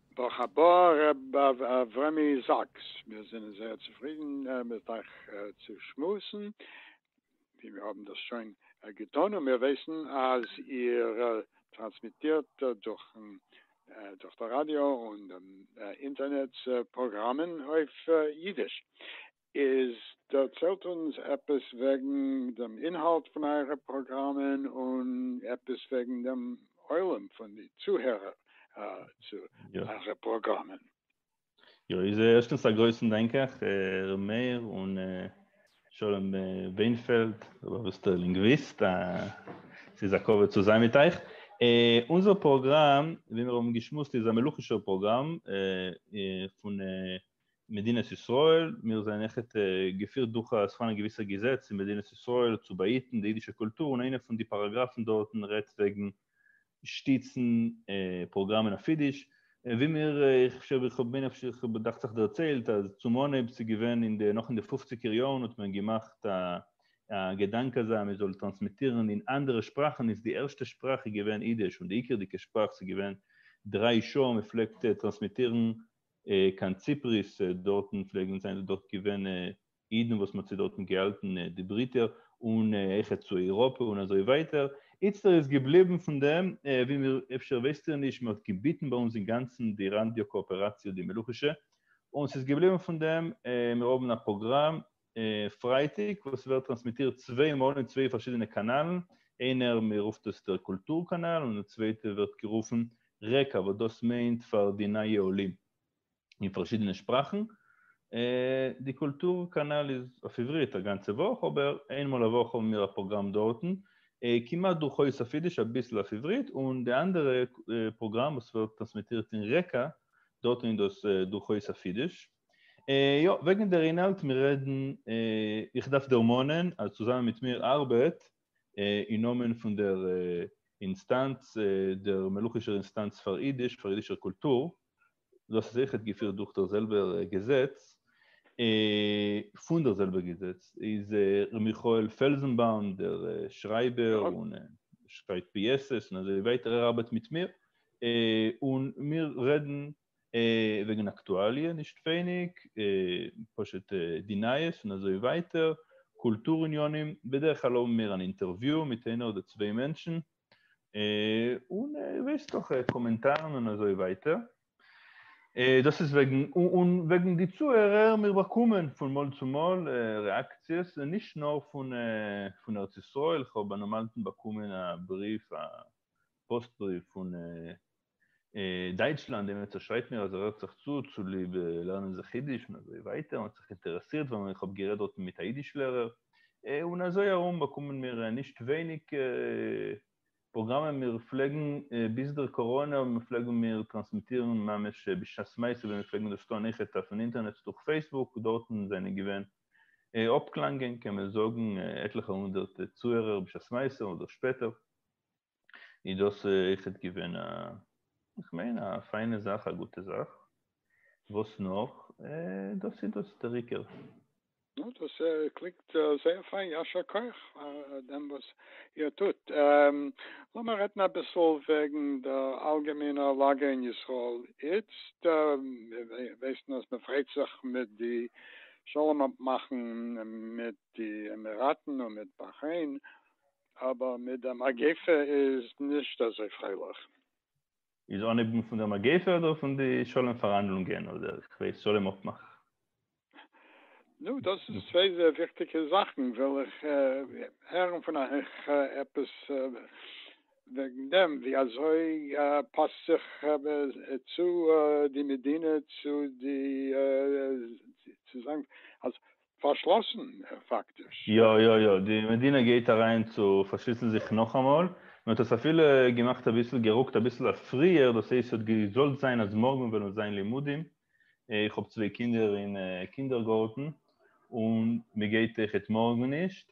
ברוך הבא ר' אברמי זאקס, מיר זענען זייער צופרידן מיט אייך צו שמועסן, ווי מיר האבן דאס שוין געטון, און מיר ווייסן אז איר טראנסמיטירט דורכן דורך די ראדיא און אינטערנעץ פראגראמען אויף אידיש. איז דערציילט אונז עפעס וועגן דעם אינהאלט פון אייערע פראגראמען און עפעס וועגן דעם עולם פון די צוהערער צו אייערע פראגראמען. יא, איז ערשטנס א גרויסן דאנק אייך ר' מאיר און שלום ווענפעלד, רבי סטער לינגוויסט, ס'איז א כבוד צו זיין מיט אייך. אונזער פראגראם ווי מיר האבן געשמועסט איז א מלוכישער פראגראם פון מדינת ישראל, מיר זענען עכט געפירט דורך א ס'פארהאן א געוויסע געזעץ אין מדינת ישראל צו באהיטן די אידישע קולטור און איינע פון די פאראגראפן דארטן רעדט וועגן שטיצן פראגראמען אויף אידיש ווי מיר איך חשוב איך האב מניח איך דאכט זיך דערציילט אז צום אנהייב ס'איז געווען אין די נאך אין די פופציגער יארן האט מען געמאכט א א געדאנק אזא מען זאל טראנסמיטירן אין אנדערע שפראכן איז די ערשטע שפראך איז געווען אידיש און די עיקרדיגע שפראך ס'איז געווען דריי שעה מ'פלעגט טראנסמיטירן קיין ציפריס, דארטן פלעגן זיין דארט געווען אידן וואס מ'האט זיי דארטן געהאלטן די ברית'ער, און אויך צו אייראפע און אזוי ווייטער, איצטער איז געבליבן פון דעם, ווי מיר, אפשר ווייסט איר נישט, מ'האט געביטן ביי אונז אינגאנצן די ראנדיו קאאפעראציע די מלוכישע, און ס'איז געבליבן פון דעם, מיר האבן א פראגראם, פרייטאג וואס ווערט טראנסמיטירט צוויי מאל אין צוויי פארשידענע קאנאלן, איינער מען רופט עס דער קולטור קאנאל און די צווייטע ווערט גערופן רקע וואס דאס מיינט פאר די נייע עולים אין פארשידענע שפראכן, די קולטור קאנאל איז אויף עברית א גאנצע וואך אבער איין מאל א וואך האבן מיר א פראגראם דארטן כמעט דורכאויס אויף אידיש אביסל אויף עברית און די אנדערע פראגראם וואס ווערט טראנסמיטירט אין רקע דארטן איז דאס דורכאויס אויף אידיש. יא, וועגן דער אינהאלט מיר רעדן, איך דארף דערמאנען אז צוזאמען מיט מיר ארבעט אין נאמען פון דער אינסטאנץ, דער מלוכישער אינסטאנץ פאר אידיש, פאר אידישער קולטור, דאס איז אויכעט געפירט דורך דער זעלבער געזעץ, פון דער זעלבער געזעץ איז ר' מיכאל פעלזענבאום דער שרייבער און שרייבט פיעסעס און אזוי ווייטער, ער ארבעט מיט מיר, און מיר רעדן וועגן אקטואליע נישט ווייניג, פשוט די נייעס און אזוי ווייטער, קולטור עניינים, בדרך כלל האבן מיר אן אינטערוויו מיט איינער אדער צוויי מענטשן, און ווייסט דאך קאמענטארן און אזוי ווייטער, דאס איז וועגן, און וועגן די צוהערער, מיר באקומען פון מאל צו מאל רעאקציעס, נישט נאר פון ארץ ישראל, כ'האב א נאמאלטן באקומען א בריוו, א פאסט בריוו פון דייטשלאנד, דער עמיצער שרייט מיר אז ער הערט זיך צו צוליב לערנען זיך אידיש און אזוי ווייטער, און האט זיך אינטערעסירט ווען איך האב גערעדט דארטן מיט א אידיש לערער, און אזוי ארום באקומען מיר נישט ווייניג פראגראמען, מיר פלעגן ביז דער קאראנע פלעגן מיר טראנסמיטירן ממש בשעת מעשה ווען מיר פלעגן דאס טון, אויכעט אויפן אינטערנעץ דורך פעיסבוק, דארטן זענען געווען אפקלאנגען קען מען זאגן עטליכע הונדערט צוהערער בשעת מעשה אדער שפעטער. איז דאס אויכעט געווען א, איך מיין א פיינע זאך, א גוטע זאך. וואס נאך? דאס איז דאס דער עיקר. נו, דאס קלינגט זייער פיין, ישר כח פאר דעם וואס איר טוט. לאמיר רעדן אביסל וועגן דער אלגעמיינער לאגע אין ישראל איצט. מיר ווייסן אז מען פריידט זיך מיט די שלום אפמאכן מיט די עמיראטן און מיט באכרעין, אבער מיט די מגיפה איז נישט אזוי פרייליך. איז אנהייבן פון דער מגיפה אדער פון די שלום פארהאנדלונגען אדער איך ווייס שלום אפמאך? נו דאס איז צוויי זייער וויכטיגע זאכן, וויל איך הערן פון אייך עפעס וועגן דעם, ווי אזוי פאסט זיך צו די מדינה צו די צו זיין אז פארשלאסן פאקטיש. יא יא יא, די מדינה גייט אריין צו פארשליסן זיך נאכאמאל, מען האט עס אפילו געמאכט אביסל גערוקט אביסל אויף פריער, דאס הייסט ס'האט געזאלט זיין אז מארגן וועלן זיין לימודים, איך האב צוויי קינדער אין קינדערגארטן און מ'גייט עכט מארגן נישט,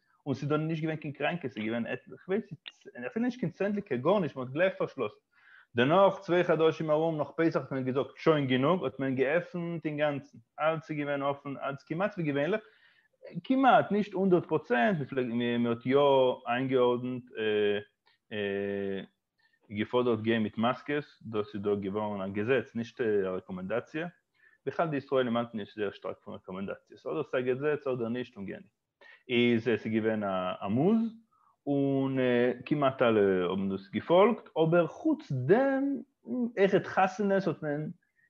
און ס'איז דאן נישט געווען קיין קראנקע, ס'איז געווען עטליכע, איך ווייס נישט, אפילו נישט קיין צענדליגער, גארנישט, מ'האט גלייך פארשלאסן. דערנאך, צוויי חדשים ארום, נאך פסח האט מען געזאגט, שוין גענוג, האט מען געעפנט אינגאנצן, אלץ איז געווען אפן, אלץ כמעט ווי געווענליך, כמעט, נישט הונדערט פראצענט, מ'האט יא איינגעארדנט, געפאדערט גיין מיט מאסקעס, דאס איז דא געווארן א געזעץ, נישט א רעקאמענדאציע, בכלל די ישראלים האלטן נישט זייער שטארק פון רעקאמענדאציעס, אדער ס'איז א געזעץ אדער נישט און גענוג. איז עס געווען א עמוז, און כמעט אלע האבן דאס געפאלגט, אבער חוץ דעם העכער די חתונות האט מען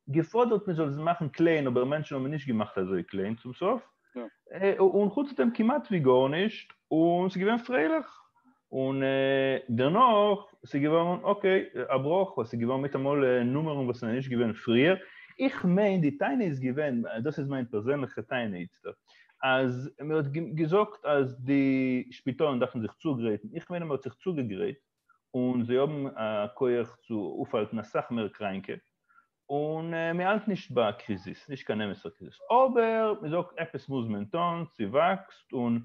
געפאדערט מען זאל עס מאכן קליין, אבער מענטשן האבן נישט געמאכט אזוי קליין צום סוף, און חוץ דעם כמעט ווי גארנישט, און ס'איז געווען פרייליך. און דערנאך ס'איז געווארן אקעי א בראך ווייל ס'איז געווארן מיטאמאל נומערן וואס זענען נישט געווען פריער, איך מיין די טענה איז געווען, דאס איז מיין פערזענליכע טענה איצטער, אז מען האט געזאגט אז די שפיטאלן דארפן זיך צוגרייטן, איך מיין אז מען האט זיך צוגעגרייט און זיי האבן א כח צו אויפהאלטן אסאך מער קראנקע, און מען האלט נישט ביי א קריזיס, נישט קיין אמת'ער קריזיס, אבער מען זאגט עפעס מוז מען טון, ס'וואקסט, און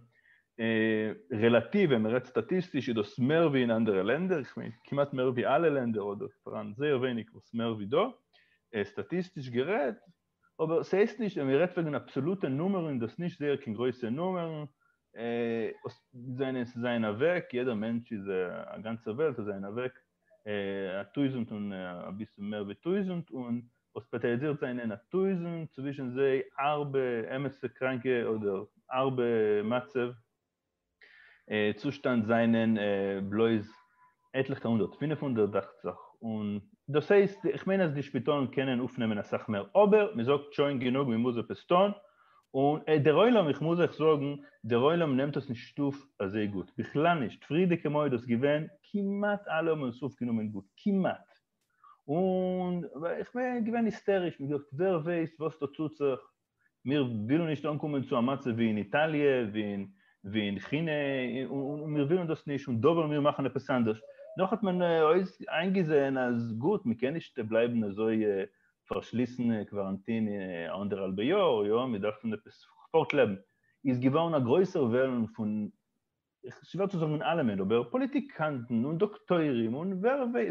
רעלאטיוו ווען מען רעדט סטאטיסטיש איז דאס מער ווי אין אנדערע לענדער, איך מיין כמעט מער ווי אלע לענדער אדער פאראן זייער ווייניג וואס מער ווי דא, סטאטיסטיש גערעדט, אבער ס'הייסט נישט ווען מען רעדט וועגן אבסאלוטע נומערן איז דאס נישט זייער קיין גרויסע נומערן, זענען ס'זענען אוועק, יעדער מענטש איז א גאנצע וועלט, זענען אוועק א טויזענט און אביסל מער ווי טויזענט און האספעטעליזירט זענען א טויזענט צווישן זיי הארבע אמת'ע קראנקע אדער הארבע מצב צושטאנד זענען בלויז עטליכע הונדערט פֿינף הונדערט דאכט זיך און דאס הייסט איך מיין אז די שפיטאלן קענען אויפנעמען אסאך מער אבער מ'זאגט שוין גענוג מ'מוז עפעס טון און דער עולם, איך מוז אייך זאגן, דער עולם נעמט עס נישט אויף אזוי גוט, בכלל נישט, פריערדיגע מועד איז געווען, כמעט אלע האבן עס אויפגענומען גוט, כמעט, און איך בין געווען היסטעריש, מיר געזאגט, ווער ווייסט וואס דא טוט זיך, מיר ווילן נישט אנקומען צו א מצב ווי אין איטאליע, ווי אין כינע, און מיר ווילן דאס נישט, און דא וועלן מיר מאכן עפעס אנדערש, דאך האט מען איינגעזען אז גוט, מען קען נישט בלייבן אזוי פארשליסן, קוואראנטין אנדערהאלבע יאר, יא, מיר דארפן עפעס פארט לעבן, איז געווארן א גרויסער וועלן פון, שווער צו זאגן אלעמען, אבער פאליטיקאנטן און דאקטוירים און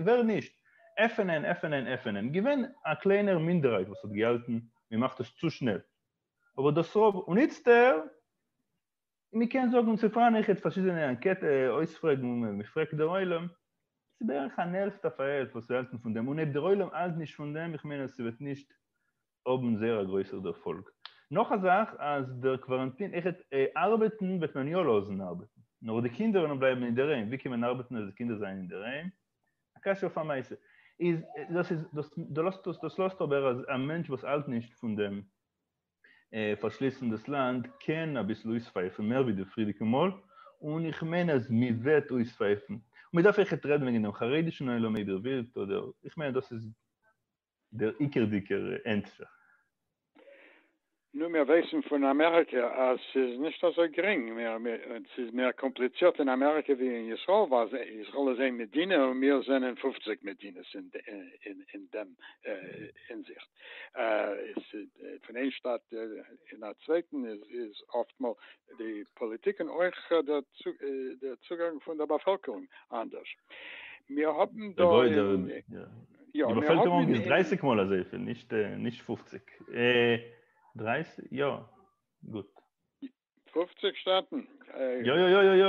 ווער נישט, עפענען, עפענען, עפענען, געווען א קליינער מינדערהייט וואס האט געהאלטן מען מאכט עס צו שנעל, אבער דאס רוב, און איצטער און מען קען זאגן צו פארנעכעט פארשידענע אנקעטע אויספרעגן און מען פרעגט דער עולם, ס'איז בערך אן העלפט אויף א העלפט וואס האלטן פון דעם און אויב דער עולם האלט נישט פון דעם איך מיין אז ס'וועט נישט האבן זייער א גרויסער דערפאלג. נאך א זאך אז דער קוואראנטין עכט ארבעטן וועט מען יא לאזן ארבעטן נאר די קינדער וועלן בלייבן אינדערהיים ווי קען מען ארבעטן אז די קינדער זענען אינדערהיים א קשיא אויף א מעשה איז דאס איז דאס דאס לאזט אבער אז א מענטש וואס האלט נישט פון דעם פארשליסן דאס לאנד קען אביסל אויספייפן מער ווי די פריערדיגע מאל, און איך מיין אז מ'וועט אויספייפן. מען דארף עכט רעדן וועגן דעם חרדישן עולם איידער ווירקט אדער, איך מיין אז דאס איז דער עיקרדיגער ענטפער. נו, מיר ווייסן פון אמעריקע אז ס'איז נישט אזוי גרינג, ס'איז מער קאמפליצירט אין אמעריקע ווי אין ישראל, ווייל ישראל איז איין מדינה און מיר זענען פופציג מדינות אין דעם הינזיכט. פון איין שטאט אין א צווייטן איז אפטמאל די פאליטיק און אויך די צוגאנג פון די באפעלקערונג אנדערש. מיר האבן דא אין. די באפעלקערונג איז דרייסיג מאל אזויפיל, נישט פופציג. דרייסיג? יא, גוט. פופציג שטאטן. יא יא יא יא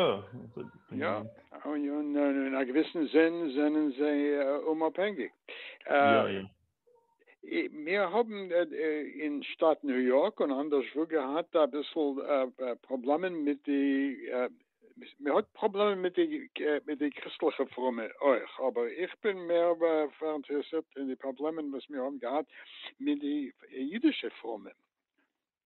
יא. און אין א געוויסן זין זענען זיי אומאפהענגיג. יא יא. מיר האבן אין שטאט ניו יארק און אנדערשוואו געהאט אביסל פראבלעמען מיט די, מען האט פראבלעמען מיט די מיט די קריסטליכע פרומע אויך, אבער איך בין מער פאראינטערעסירט אין די פראבלעמען וואס מיר האבן געהאט מיט די אידישע פרומע.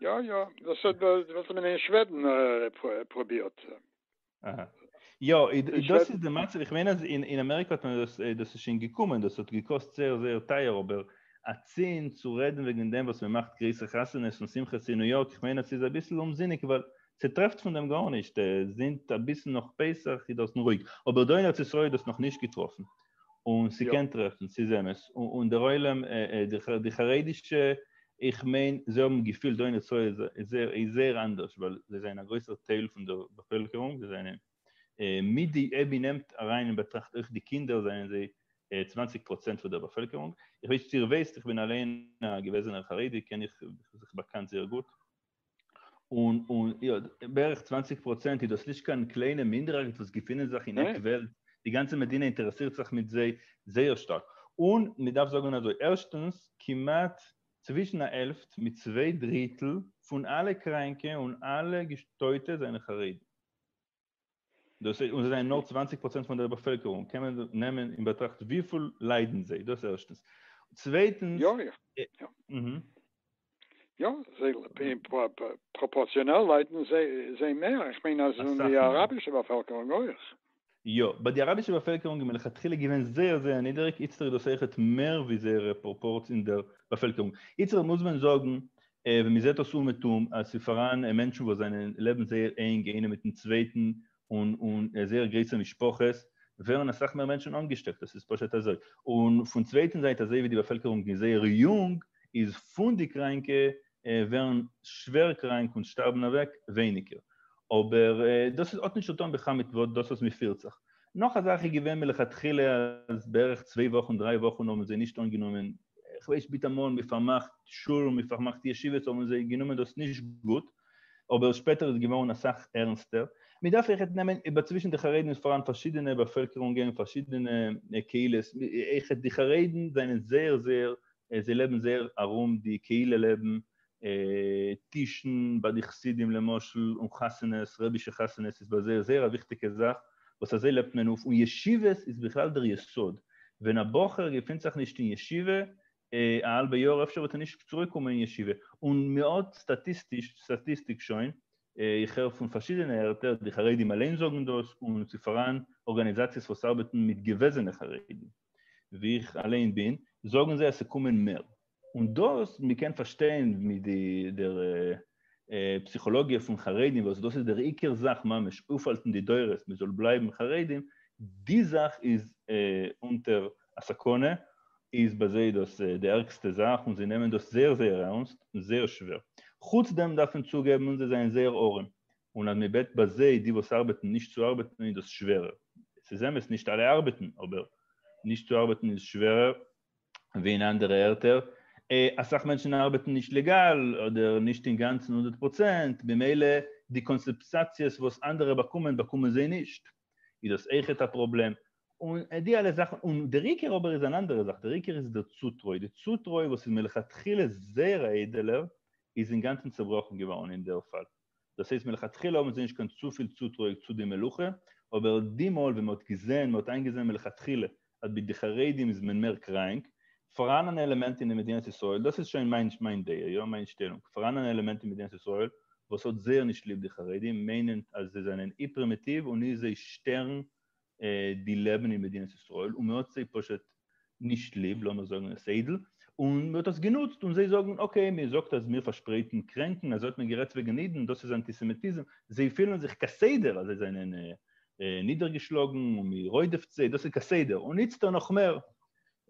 יא יא דאס האט וואס מען אין שוועדן פרובירט אהה יא דאס איז די מצב איך מיין אז אין אין אמעריקא האט מען דאס דאס איז שוין געקומען דאס האט געקאסט זייער זייער טייער אבער אצינד צו רעדן וועגן דעם וואס מען מאכט גרויסע חתונות און שמחות אין ניו יארק איך מיין עס איז אביסל אומזיניג ווייל ס'טרעפט פון דעם גארנישט זינט אביסל נאך פסח איז דארטן רואיג אבער דא אין ארץ ישראל איז דאס נאכנישט געטראפן און ס'קען טרעפן, ס'איז אמת, און דער עולם, די חרדישע, איך מיין, זיי האבן געפילט דא אין ישראל איז זייער אנדערש, ווייל זיי זענען א גרויסער טייל פון דער באפעלקערונג, זיי זענען, מיט די ע ב נעמט אריין אין באטראכט אויך די קינדער, זענען זיי צוואנציג פראצענט פון דער באפעלקערונג, איך ווייס נישט צו איר ווייסט, איך בין אליין א געוועזענער חרדי, קען איך, איך זיך באקאנט זייער גוט. און און יא בערך צוואַנציק פראצענט איז דאס נישט קיין קליינע מינדערהייט וואס געפינען זיך אין עק וועלט, די גאנצע מדינה אינטערעסירט זיך מיט זיי זייער שטארק, און מען דארף זאגן אזוי, ערשטנס, כמעט צווישן א העלפט מיט צוויי דריטל פון אלע קראנקע און אלע געשטויטע זענען חרדים. דאס איז און זיי זענען נאר צוואַנציק פראצענט פון דער באפעלקערונג קען מען נעמען אין באטראכט וויפיל ליידן זיי דאס ערשטנס צווייטנס יא יא יא אהה יא זיי אין פראפארציאנעל ליידן זיי מער איך מיין אז און די אראבישע באפעלקערונג אויך. יא באט די אראבישע באפעלקערונג איז מלכתחילה געווען זייער זייער נידעריג איצטער איז דאס אויכעט מער ווי זייערע פראפארץ אין דער באפעלקערונג איצטער מוז מען זאגן ווען מען זעט דאס אומעטום אז ס'איז פאראן מענטשן וואס זענען לעבן זייער ענג איינער מיטן צווייטן און און זייער גרויסע משפחות, ווערן אסאך מער מענטשן אנגעשטעקט, דאס איז פשוט אזוי. און פון צווייטן זייט אזוי ווי די באפעלקערונג איז זייער יונג, איז פון די קראנקע ווערן שווער קראנק און שטארבן אוועק ווייניגער. אבער דאס איז האט נישט צוטון בכלל מיט וואס דאס וואס מען פירט זיך. נאך א זאך איז געווען מלכתחילה אז בערך צוויי וואכן דריי וואכן האבן זיי נישט אנגענומען איך ווייס ביטע מאל מען פארמאכט שול מען פארמאכט ישיבות האבן זיי גענומען דאס נישט גוט אבער שפעטער איז געווארן אסאך ערנסטער מען דארף עכט נעמען איבער צווישן די חרדים איז פאראן פארשידענע באפעלקערונגען פארשידענע קהילות עכט די חרדים זענען זייער זייער זיי לעבן זייער ארום די קהילה לעבן טישן ביי די חסידים למשל און חתונות, רבי'שע חתונות איז ביי זיי זייער א וויכטיגע זאך וואס אזוי לעבט מען אויף, און ישיבות איז בכלל דער יסוד, ווען א בחור געפינט זיך נישט אין ישיבה א האלבע יאר אפשר וועט ער נישט צוריק קומען אין ישיבה, און מען האט סטאטיסטיק שוין, איך הער פון פארשידענע ערטער, די חרדים אליין זאגן דאס, און ס'איז פאראן ארגאניזאציעס וואס ארבעטן מיט געוועזענע חרדים, ווי איך אליין בין, זאגן זיי אז ס'קומען מער, און דאס מ'קען פארשטיין מיט די דער פסיכאלאגיע פון חרדים וואס דאס איז דער עיקר זאך ממש אויפהאלטן די דורות מ'זאל בלייבן חרדים, די זאך איז אונטער א סכנה, איז ביי זיי דאס די ערגסטע זאך און זיי נעמען דאס זייער זייער ערנסט און זייער שווער. חוץ דעם דארף מען צוגעבן אונז זיי זענען זייער ארעם און אז מ'בעט ביי זיי די וואס ארבעטן נישט צו ארבעטן איז דאס שווערער, ס'איז אמת נישט אלע ארבעטן אבער נישט צו ארבעטן איז שווערער ווי אין אנדערע ערטער, אסאך מענטשן ארבעטן נישט לעגאל, אדער נישט אינגאנצן הונדערט פראצענט, במילא די קאנסעפסאציעס וואס אנדערע באקומען באקומען זיי נישט, איז דאס אויכעט א פראבלעם, און די אלע זאכן, און דער עיקר אבער איז אן אנדערע זאך, דער עיקר איז דער צוטרוי, די צוטרוי וואס איז מלכתחילה זייער א איידעלער, איז אינגאנצן צעבראכן געווארן אין דער פאל. דאס הייסט מלכתחילה האבן זיי נישט קיין צופיל צוטרוי צו די מלוכה, אבער די מאל ווען מ'האט געזען, מ'האט איינגעזען מלכתחילה אז ביי די חרדים איז מען מער קראנק, פאראן אן עלעמענט אין די מדינת ישראל, דאס איז שוין מיין דעה, יא, מיין שטעלונג, פאראן אן עלעמענט אין מדינת ישראל וואס האט זייער נישט ליב די חרדים, מיינענד אז זיי זענען אי-פרימיטיוו און אי זיי שטערן די לעבן אין מדינת ישראל און מ'האט זיי פשוט נישט ליב, לאמיר זאגן עס איידל, און מ'האט עס גענוצט און זיי זאגן אקעי מען זאגט אז מיר פארשפרייטן קרענקן אזוי האט מען גערעדט וועגן אידן דאס איז אנטיסעמיטיזם, זיי פילן זיך כסדר אז זיי זענען נידערגעשלאגן און מ'רודפ'ט זיי, דאס איז כסדר, און איצטער נאך מער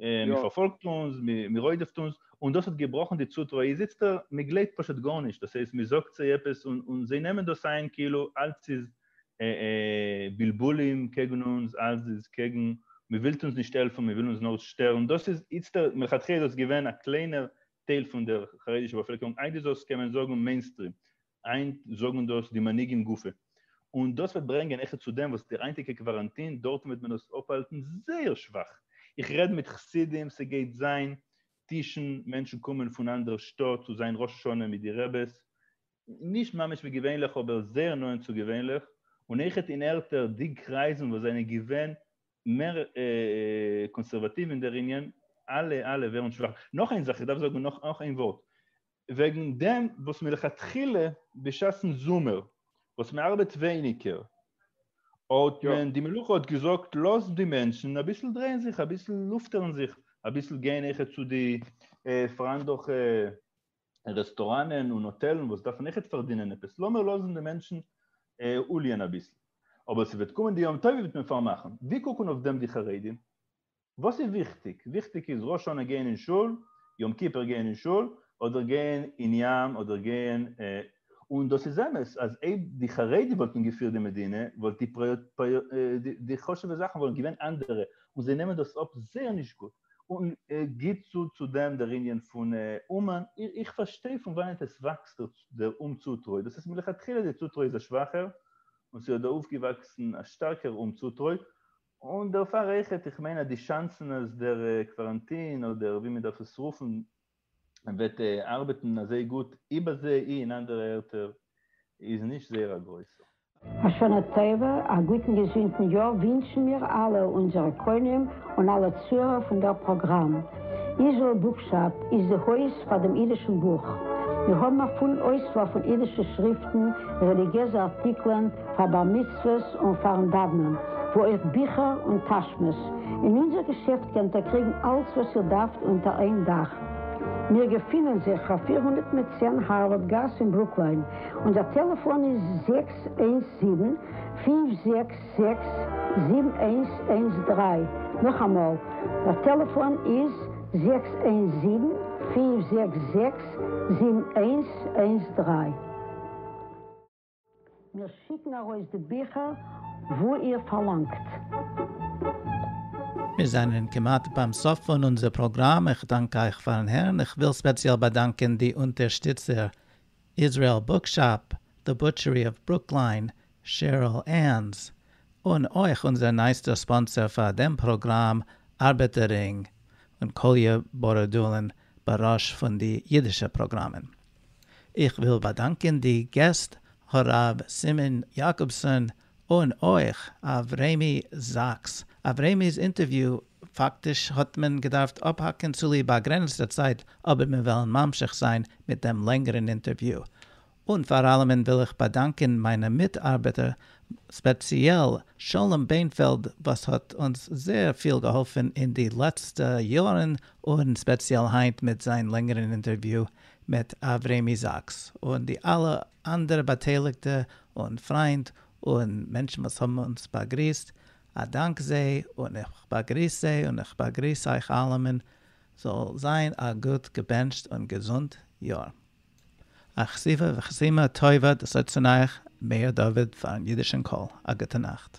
מען פארפאלגט אונז, מען רודפ'ט אונז, און דאס האט געבראכן די צוטרוי, איז איצט דא, מען גלייבט פשוט גארנישט, דאס הייסט מען זאגט זיי עפעס און זיי נעמען דאס איין כאילו אלץ איז בלבולים קעגן אונז, אלץ איז קעגן, מען ווילט אונז נישט העלפן, מען וויל אונז נאר שטערן, דאס איז איצט, מלכתחילה איז דאס געווען א קליינער טייל פון דער חרדישע באפעלקערונג, היינט איז דאס קען מען זאגן מעינסטרים, היינט זאגן דאס די מנהיגים גופא, און דאס וועט ברענגען העכער צו דעם וואס די היינטיגע קוואראנטין, דארטן וועט מען עס אפהאלטן זייער שוואך, איך רעד מיט חסידים, ס'גייט זיין טישן, מענטשן קומען פון אנדערע שטאט צו זיין ראש השנה מיט די רעבעס, נישט ממש ווי געווענליך אבער זייער נאענט צו געווענליך, און העכער אין ערטער די קרייזן וואס זענען געווען מער קאנסערוואטיוו אין דער ענין, אלע אלע ווערן שוואך, נאך איין זאך, איך דארף זאגן נאך איין ווארט, וועגן דעם וואס מלכתחילה בשעת'ן זומער וואס מען ארבעט ווייניגער האט יא. מען די מלוכה האט געזאגט לאז די מענטשן אביסל דרייען זיך אביסל לופטערן זיך אביסל גיין אויכעט צו די פריינדליכע רעסטוראנען און האטעלן וואס דארפן אויכעט פארדינען עפעס לאמיר לאזן די מענטשן אוליען אביסל אבער ס'וועט קומען די יום טובים וועט מען פארמאכן ווי קוקן אויף דעם די חרדים? וואס איז וויכטיג? וויכטיג איז ראש השנה גיין אין שול, יום כיפור גיין אין שול, אדער גיין אין ים, אדער גיין און דאס איז אמת אז אויב די חרדים וואלטן געפירט די מדינה וואלט די די חשוב'ע זאכן וואלט געווען אנדערע, און זיי נעמען דאס אפ זייער נישט גוט. און גיט צו צו דעם דער ענין פון אומאן, איך פארשטיי פון וואנעט עס וואקסט דער אומצוטרוי, דאס איז מלכתחילה די צוטרוי איז א שוואכער, און ס'האט דא אויפגעוואקסן א שטארקער אומצוטרוי, און דערפאר אויכעט, איך מיין אז די שאנסן אז דער קוואראנטין אדער ווי מען דארף עס רופן וועט ארבעטן אזוי גוט איבער זי ע אין אנדערע ערטער איז נישט זייער א גרויסע. א שנה טובה, א גוטן געזונטן יאר ווינטשן מיר אלע אונזערע קונים און אלע צוהערער פון דער פראגראם. איזשעל בוקשאפ איז די הויז פאר דעם אידישן בוך. מיר האבן א פולן אויסוואל פון אידישע שריפטן, רעליגיעזע ארטיקלען, פאר בר מצוות און פארן דאוונען, וואו אויך ביכער און טאשמעס, אין אונזער געשעפט קענט איר קריגן אלץ וואס איר דארפט אונטער איין דאך. מיר געפינען זיך פֿיר הונדערט מיט צען הארווארד גאס אין ברוקליין, אונזער טעלעפאן איז זעקס איינס זיבן, פֿינף זעקס זעקס, זיבן איינס איינס דרײַ, נאכאמאל, דער טעלעפאן איז זעקס איינס זיבן, פֿינף זעקס זעקס, זיבן איינס איינס דרײַ. מיר שיקן ארויס די ביכער וואו איר פארלאנגט. מיר זענען כמעט ביים סוף פון אונזער פראגראם, איך דאנק אייך פארן הערן, איך וויל ספעציעל באדאנקען די אונטערשטיצער, Israel Bookshop, The Butchery of Brookline, Cheryl Ann's, און אויך אונזער נייעסטער ספאנסער פאר דעם פראגראם, ארבעטער רינג, און קאליע בארדולין בראש פון די אידישע פראגראמען. איך וויל באדאנקען די געסט הרב סימון יאקאבסאן און אויך אברעמי זאקס. אברעמי'ס אינטערוויו פאקטיש האט מען געדארפט אפהאקן צוליב באגרעניצטע צייט אבער מיר וועלן ממשיך זיין מיט דעם לענגערן אינטערוויו. און פאר אלעמען וויל איך באדאנקען מיינע מיטארבעטער ספעציעל שלום בענפעלד וואס האט אונז זייער פיל געהאלפן אין די לעצטע יארן און ספעציעל היינט מיט זיין לענגערן אינטערוויו מיט אברעמי זאקס און די אלע אנדערע באטייליגטע און פריינד און מענטשן וואס האבן אונז באגריסט, א דאנק זיי און איך באגריס זיי און איך באגריס אייך אלעמען, זאל זיין א גוט געבענטשט און געזונט יאר. אכסיבה וחסימה טובה דאס אויך צון אייך מאיר דוד פארן אידישן קול, א גוטע נאכט.